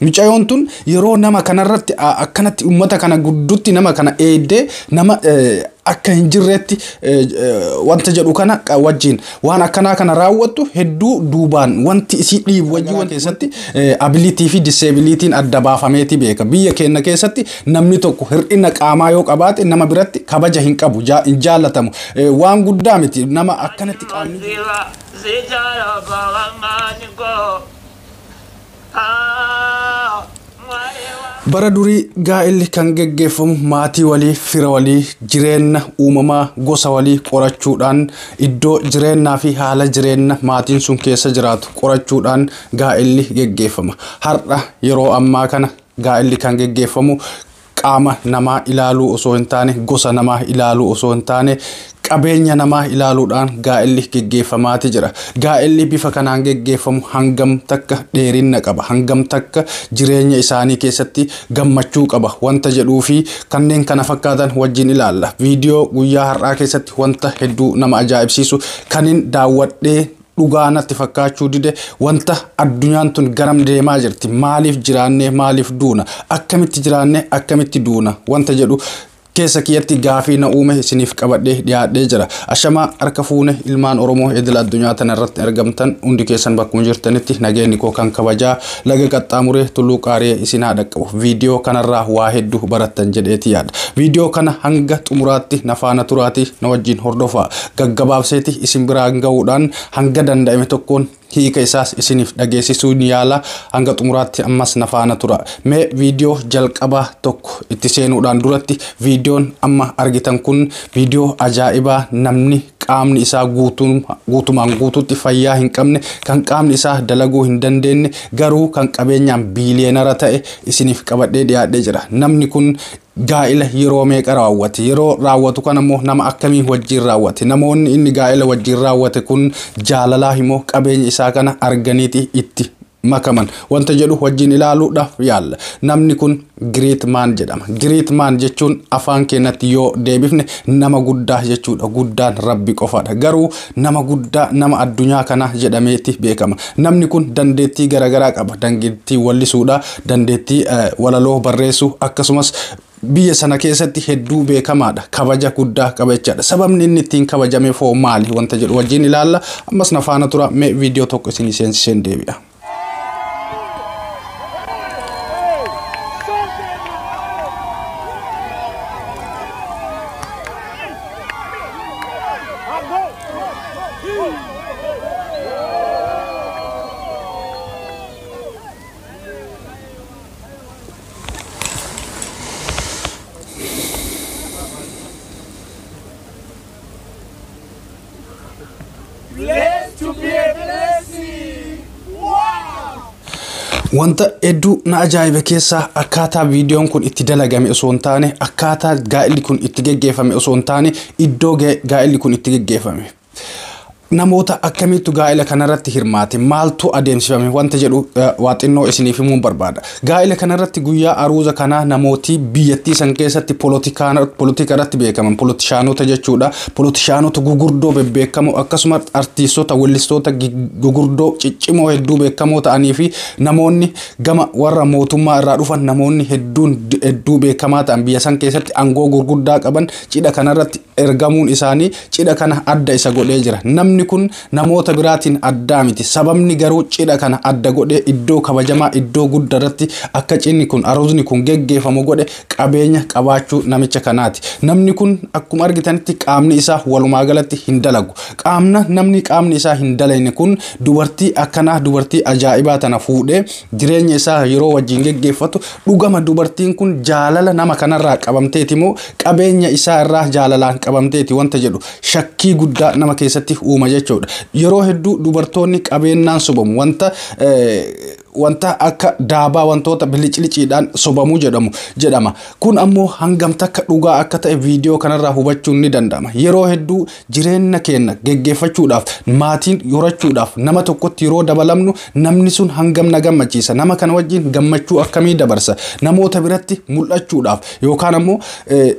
Micayoon tun yeroo nama kanarratti akkanatti ummata kana guddutti nama kana eeddee nama akka hin jirreetti wanta jedhu kana wajjin waan akkanaa kana raawwattu hedduu duubaan wanti isii dhiibu wajjin waan keessatti abilitii fi diseebilitiin adda baafameeti beeka. Biyya keenya keessatti namni tokko hir'ina qaamaa yoo qabaate nama biratti kabaja hin qabu hin jaallatamu waan guddaa miti nama akkanatti qaamni. Bara durii gaa'illi kan geggeeffamu maatii walii, fira walii, jireenna uumamaa gosa walii qorachuudhaan iddoo jireennaa fi haala jireenna maatiin sun keessa jiraatu qorachuudhaan gaa'illi geggeeffama. Har'a yeroo ammaa kana gaa'illi kan geggeeffamu qaama namaa ilaaluu osoo hin taane, gosa namaa ilaaluu osoo hin taane, qabeenya namaa ilaaluudhaan gaa'elli geggeeffamaati jira. Gaa'elli bifa kanaan geggeeffamu hangam takka dheerinna qaba, hangam takka jireenya isaanii keessatti gammachuu qaba wanta jedhuu fi kanneen kana fakkaatan wajjin ilaalla. Viidiyoo guyyaa har'aa keessatti wanta hedduu nama ajaa'ibsiisu kanin daawwadhee dhugaa natti fakkaachuu dide wanta addunyaan tun garam deemaa jirti maaliif jiraannee maaliif duuna akkamitti jiraannee akkamitti duuna wanta jedhu keessa kiyyatti gaafii na uume isiniif qabadhee dhiyaadhee jira ashamaa harka fuune ilmaan oromoo edila addunyaa tana irratti argamtan hundi keessan bakkuma jirtanitti nageenyi koo kan kabajaa Laga qaxxaamuree Tulluu Qaariyee isin haa dhaqqabu. Viidiyoo kanarraa waa hedduu barattan jedheeti yaada. Viidiyoo kana hanga xumuraatti na faana turaatii na wajjin hordofaa. Gaggabaabseeti isin biraan ga'uudhaan hanga danda'ame tokkoon hiika isaas isiniif dhageessisuun yaala. Hanga xumuraatti ammas na faana tura. Mee viidiyoo jalqabaa tokko itti seenuudhaan duratti viidiyoon amma argitan kun viidiyoo ajaa'ibaa namni qaamni isaa guutumaan guutuutti fayyaa hin qabne kan qaamni isaa dalaguu hin dandeenye garuu kan qabeenyaan biiliyeenara ta'e isiniif qabadhee dhiyaadhee jira namni kun gaa'ila yeroo meeqa raawwate yeroo raawwatu kan ammoo nama akkamii wajjiin raawwate namoonni inni gaa'ila wajjiin raawwate kun jaalalaa himoo qabeenya isaa kana arganiiti itti makaman wanta jedhu wajjin ilaaluudhaaf yaalla. Namni kun Great Man jedhama. Great Man jechuun afaan keenyatti yoo deebifne nama guddaa jechuudha. Guddaan Rabbi qofaadha. Garuu nama guddaa nama addunyaa kanaa jedhameeti beekama. Namni kun dandeettii garaagaraa qaba. Dandeettii wallisuudha, dandeettii eh, walaloo barreessuu akkasumas biyya sana keessatti hedduu beekamaadha. Kabaja guddaa qaba jechaadha. Sababni inni ittiin kabajameef hoo maali wanta jedhu wajjin ilaalla. Ammas na faana tura mee viidiyoo tokko isinii seensiseen deebi'a. Wanta hedduu na ajaa'ibe keessaa akkaataa viidiyoon kun itti dalagame osoo hin taane akkaataa gaa'illi kun itti geggeeffame osoo hin taane iddoo ga- gaa'illi kun itti geggeeffame Namoota akkamiittu gaa'ila kanarratti hirmaate? Maaltu adeemsifame? Wanta jedhu waa xinnoo isiniif himuun barbaada. Gaa'ila kanarratti guyyaa aruuza kanaa namooti biyyattii san keessatti polotika irratti beekaman, polotishaanota jechuudha. Polotishaanota gugurdoo bebbeekamoo akkasumas artiistota, wellistoota gugurdoo ciccimoo hedduu beekamoo ta'anii fi namoonni gama warra mootummaa irraa dhufan namoonni hedduun hedduu beekamaa ta'an biyya san keessatti aangoo gurguddaa qaban cidha kanarratti ergamuun isaanii cidha kana adda isa godhee jira. Namni kun namoota biraatiin addaa miti. Sababni garuu cidha kana adda godhee iddoo kabajamaa iddoo guddaa irratti akka cidhni kun aroosni kun geggeeffamu godhe qabeenya qabaachuu namicha kanaati. Namni kun akkuma argitanitti qaamni isaa walumaa galatti hin dalagu. Qaamna namni qaamni isaa hin dalayne kun dubartii akkanaa dubartii ajaa'ibaa tana fuudhee jireenya isaa yeroo wajjin geggeeffatu dhugama dubartiin kun jaalala nama kanarraa qabamteeti moo qabeenya isaa irraa jaalalaan qabamteeti wanta jedhu shakkii guddaa nama keessatti uuma jechuudha. Yeroo hedduu dubartoonni qabeennaan sobamu wanta wanta akka daabaa wantoota bilicliciidhaan sobamuu jedhamu jedhama. Kun ammoo hangam takka dhugaa akka ta'e viidiyoo kanarraa hubachuun ni danda'ama. Yeroo hedduu Jireenna keenna geggeeffachuudhaaf, maatiin horachuudhaaf nama tokkotti yeroo dabalamnu namni sun hangam na gammachiisa? Nama kana wajjin gammachuu akkamii dabarsa? Namoota biratti mul'achuudhaaf yookaan ammoo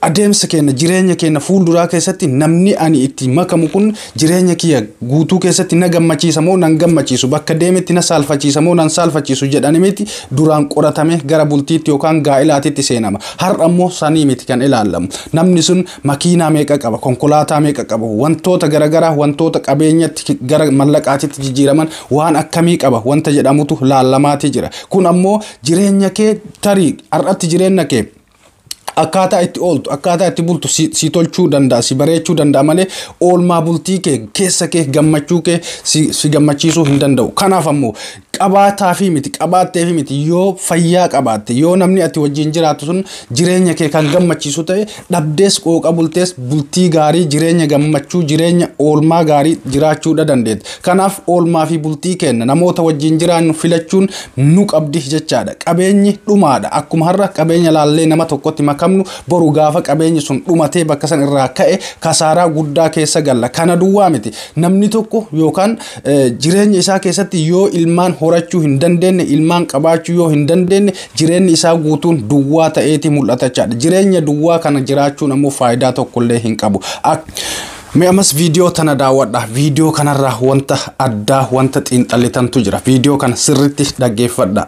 adeemsa keenna jireenya keenna fuulduraa keessatti namni ani itti makamu kun jireenya kiyya guutuu keessatti na gammachiisa moo nan gammachiisu bakka deemetti na saalfachiisa moo nan saalfachiisu jedhani miti duraan qoratamee gara bultiitti yookaan gaa'ilaatitti seenama. Har'a immoo sanii miti kan ilaallamu. Namni sun makiinaa meeqa qaba, konkolaataa meeqa qaba, wantoota garagaraa wantoota qabeenyatti gara mallaqaatitti jijjiiraman waan akkamii qaba wanta jedhamutu laallamaatii jira. Kun ammoo jireenya kee tarii har'atti jireenya kee akkaataa itti ooltu akkaataa itti bultu si, si tolchuu danda'a si bareechuu danda'a malee oolmaa bultii kee keessa kee gammachuu kee si, si gammachiisuu hin danda'u kanaaf ammoo qabaataafi miti qabaatteefi miti yoo fayyaa qabaatte yoo namni ati wajjin jiraattu sun jireenya kee kan gammachiisu ta'e dhabdees qooqa bultees bultii gaarii jireenya gammachuu jireenya oolmaa gaarii jiraachuudha dandeetta kanaaf oolmaa fi bultii kenna namoota wajjin jiraannu filachuun nu qabdi jechaadha qabeenyi dhumaadha akkuma har'a qabeenya laallee nama tokkotti makamnu boru gaafa qabeenyi sun dhumatee bakka san irraa ka'e kasaaraa guddaa keessa galla kana duwwaa miti namni tokko yookaan jireenya isaa keessatti yoo ilmaan horachuu hin dandeenye ilmaan qabaachuu yoo hin dandeenye jireenyi isaa guutuun duwwaa ta'eeti mul'ata jechaadha jireenya duwwaa kana jiraachuun ammoo faayidaa tokkollee hin qabu. Mee ammas viidiyoo tana daawwadha. Viidiyoo kanarraa wanta addaa wanta xiinxallitantu jira. Viidiyoo kana sirriitti dhaggeeffadha.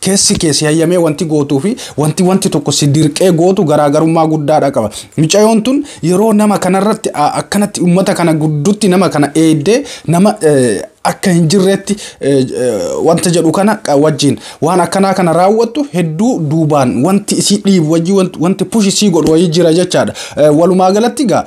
Keessi kee si hayyamee wanti gootuu fi wanti wanti tokko si dirqee gootu garaagarummaa guddaadha qaba. Micayoon tun yeroo nama kanarratti akkanatti ummata kana guddutti nama kana eeddee nama akka hin jirreetti wanta jedhu kana wajjin waan akkanaa kana raawwattu hedduu duubaan wanti isii dhiibu wajjin wanti push isii godhu wayii jira jechaadha. Walumaa galatti egaa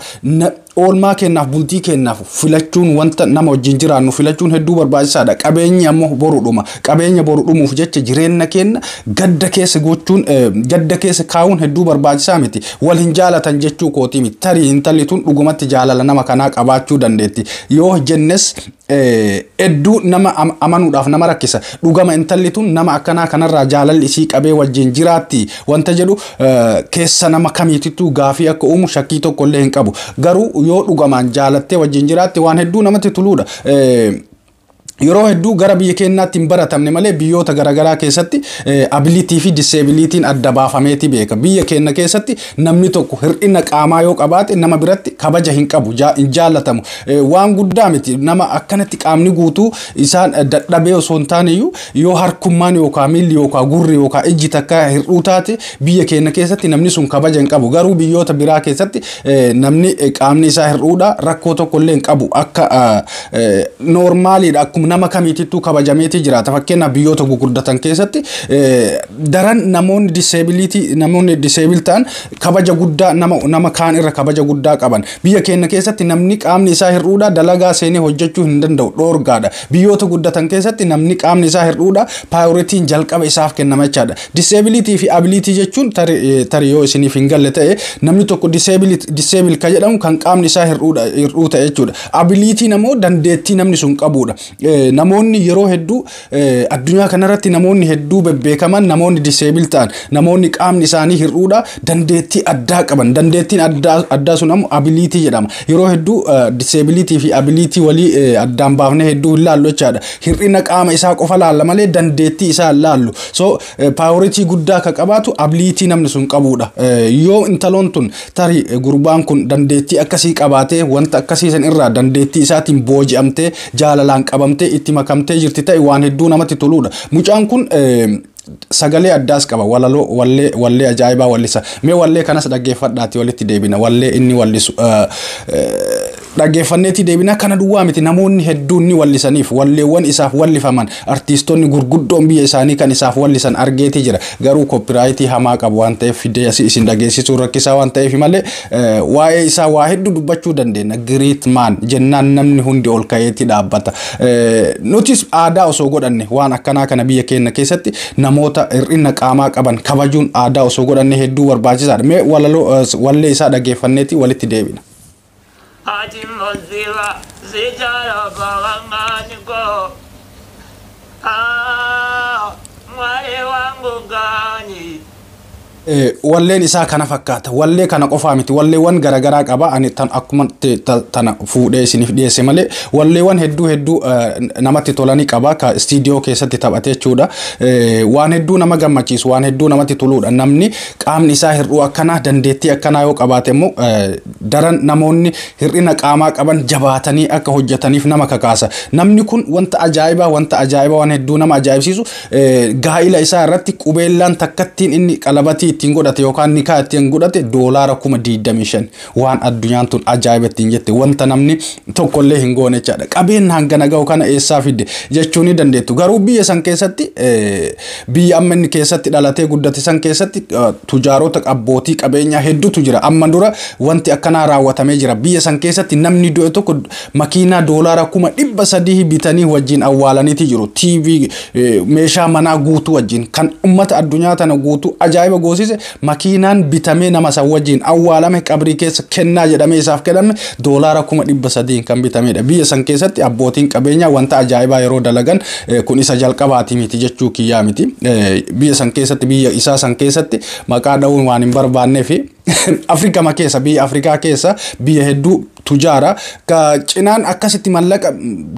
Oolmaa keenyaaf, bultii keenyaaf filachuun wanta nama wajjin jiraannu filachuun hedduu barbaachisaadha. Qabeenyi ammoo boru dhuma. Qabeenya boru dhumuuf jecha jireenya keenya gadda keessa gochuun gadda keessa kaa'uun hedduu barbaachisaa miti. Wal hin jaalatan jechuu kootii miti. Tarii intalli tun dhugumatti jaalala nama kanaa qabaachuu dandeetti. Yoo jennes hedduu nama amanuudhaaf nama rakkisa. Dhugama intalli tun nama akkanaa kanarraa jaalalli isii qabee wajjin jiraatti wanta jedhu keessa nama kamiitittuu gaafii akka uumu shakkii tokko illee hin qabu. Garuu yoo dhugamaan jaalattee wajjin jiraatte waan hedduu namatti tuluudha. Yeroo hedduu gara biyya keenyaatti hin baratamne malee biyyoota garaagaraa keessatti abilitii fi diseebilitiin adda baafameeti beeka. Biyya keenya keessatti namni tokko hir'ina qaamaa yoo qabaate nama biratti kabaja hin qabu, hin jaallatamu. Waan guddaa miti nama akkanatti qaamni guutuu isaan dadhabee osoo hin taane iyyuu Yoo harkummaan yookaan miilli yookaan gurri yookaan ijji takka hir'uu taate biyya keenya keessatti namni sun kabaja hin qabu. Garuu biyyoota biraa keessatti eh, namni eh, qaamni isaa hir'uudha rakkoo tokko illee hin qabu. Akka eh, eh, noormaaliidha akkuma nama kamiitittuu kabajameetii jiraata. Fakkeenyaaf biyyoota gurguddatan keessatti eh, daran namoonni diseebiliitii namoonni diseebil ta'an kabaja guddaa nama nama kaan irra kabaja guddaa qaban. Biyya keenya keessatti namni qaamni isaa hir'uudha dalagaa seenee hojjechuu hin danda'u dhoorgaadha. Biyyoota guddatan keessatti namni qaamni isaa hir'uudha paayoritiin jalqaba isaaf kennama jechaadha. Diseebiliitii fi abiliitii jechuun tarii yoo isiniif hin galle ta'e namni tokko diseebil kan jedhamu kan qaamni isaa hir'uu ta'e jechuudha. Abiliitiin ammoo dandeettii namni sun qabuudha. Namoonni yeroo hedduu addunyaa kanarratti namoonni hedduu bebbeekaman namoonni diseebil ta'an namoonni qaamni isaanii hir'uudha dandeettii addaa qaban dandeettiin addaa sun ammoo abiliitii jedhama. Yeroo hedduu disability fi ability walii eh, addaan baafnee hedduu hin laallu jechaadha. Hir'ina qaama isaa qofa laalla malee dandeettii isaa hin laallu. So eh, priority guddaa akka qabaatu ability namni sun qabuudha. Eh, Yoo intaloon tun tarii eh, gurbaan kun dandeettii akkasii qabaatee wanta akkasii san irraa dandeettii isaatiin booji'amtee jaalalaan qabamtee itti makamtee jirti ta'e waan hedduu namatti toluudha. Mucaan kun eh, Sagalee addaas qaba. Walaloo, wallee, wallee ajaa'ibaa wallisa. Mee wallee kanas dhaggeeffadhaati walitti deebina. Wallee inni wallisu dhaggeeffanneetii deebina. Kana duwwaa miti namoonni hedduun ni wallisaniif. Walleewwan isaaf wallifaman artiistonni gurguddoon biyya isaanii kan isaaf wallisan argeetii jira. Garuu koppiraayitii hamaa qabu waan ta'eef fidee asii isin dhageessisuun rakkisaa waan ta'eef malee Waa'ee isaa waa hedduu dubbachuu dandeenya. Great man jennaan namni hundi ol ka'eetti dhaabbata. Nutis aadaa osoo godhanne waan akkanaa kana biyya keenya keessatti namoota hir'ina qaamaa qaban kabajuun aadaa osoo godhanne hedduu barbaachisaadha. Mee walaloo wallee isaa dhageeffanneetti walitti deebina. Ati musiba si jala bawangani go Ah mwari wangu gani Walleen isaa kana fakkaata. Wallee kana qofaa miti. Walleewwan garaagaraa qaba. Ani tan akkuma te- ta- tana fuudhee isiniif dhiyeesse malee walleewwan hedduu hedduu eh, namatti tolanii qaba. Ka istiidiyoo keessatti taphatee jechuudha. Eh, Waan hedduu nama gammachiisu, waan hedduu namatti toluudha. Namni qaamni isaa hir'uu akkanaa, dandeettii akkanaa yoo qabaate immoo eh, daran namoonni hir'ina qaamaa qaban jabaatanii akka hojjetaniif nama kakaasa. Namni kun wanta ajaa'ibaa wanta ajaa'ibaa waan hedduu nama ajaa'ibsiisu gaa'ila isaa irratti qubeellaan takkattiin inni qalabatii ittiin godhate yookaan nikaa ittiin godhate doolaara kuma 25 waan addunyaan tun ajaa'iba ittiin jette wanta namni tokkollee hin goone jechaadha. Qabeen hangana ga'u kana eessaa fide jechuu ni dandeettu. Garuu biyya san keessatti Biyya amma inni keessatti dhalatee guddate san keessatti tujaarota abbootii qabeenyaa hedduutu jira. Amma dura wanti akkanaa raawwatamee jira. Biyya san keessatti namni du'e tokko makiinaa doolaara kuma dhibba sadii bitanii wajjin awwaalaniiti jiru. TV meeshaa manaa guutuu wajjin kan ummata addunyaa tana guutuu ajaa'iba goosise Makiinaan bitamee nama san wajjiin awwaalame qabrii keessa kennaa jedhamee isaaf kenname doolaara kuma dhibba sadiin kan bitamedha. Biyya san keessatti abbootiin qabeenyaa wanta ajaa'ibaa yeroo dalagan eh, kun isa jalqabaati miti jechuu kiyyaa miti. Eh, Biyya san keessatti biyya isaa san keessatti maqaa dha'uun waan hin barbaanneefi Afrikama keessa biyya Afrikaa keessa biyya hedduu tujaara ka cinaan akkasitti mallaqa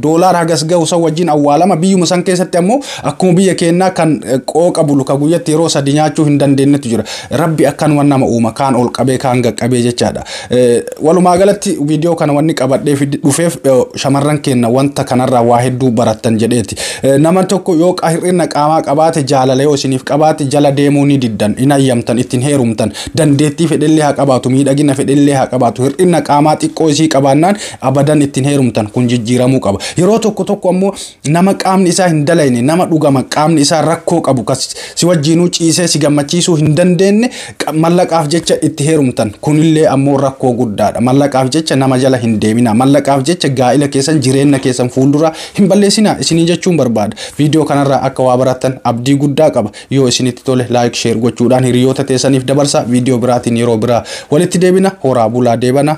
doolaar hagas gahu san wajjin awwaalama biyyuma san keessatti ammoo akkuma biyya keennaa kan eh, qooqa bulu ka guyyatti yeroo sadi nyaachuu hin dandeenyetu jira rabbi akkanuma nama uuma kaan ol qabee kaan gaqqabee jechaadha Eh, walumaa galatti viidiyoo kana wanni qabadhee fi dhufeef eh, shamarran keenna wanta kanarraa waa hedduu barattan jedheeti Eh, nama tokko yoo qa- hir'ina qaamaa qabaate jaalala yoo isiniif qabaate jala deemuu ni diddan hin hayyamtan ittiin heerumtan Dandeettii fedhellee haa qabaatu, miidhagina fedhellee haa qabaatu, hir'ina qaamaa xiqqoo isii qabaannaan abadan ittiin heerumtan kun jijjiiramuu qaba. Yeroo tokko tokko ammoo nama qaamni isaa hin dalayne, nama dhugama qaamni isaa rakkoo qabu, kas si wajjiinuu ciisee si gammachiisuu hin dandeenye mallaqaaf jecha itti heerumtan kunillee ammoo rakkoo guddaadha. Mallaqaaf jecha nama jala hin deeminaa. Mallaqaaf jecha gaa'ila keessan jireenna keessan fuulduraa hin balleessinaa isiniin jechuun barbaada. Viidiyoo kanarraa akka waa barattan abdii guddaa qaba. Yoo isinitti tole like share gochuudhaan hiriyoota teessaniif dabarsaa video biraatiin yeroo biraa walitti deebina horaa bulaa deebana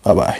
bye bye.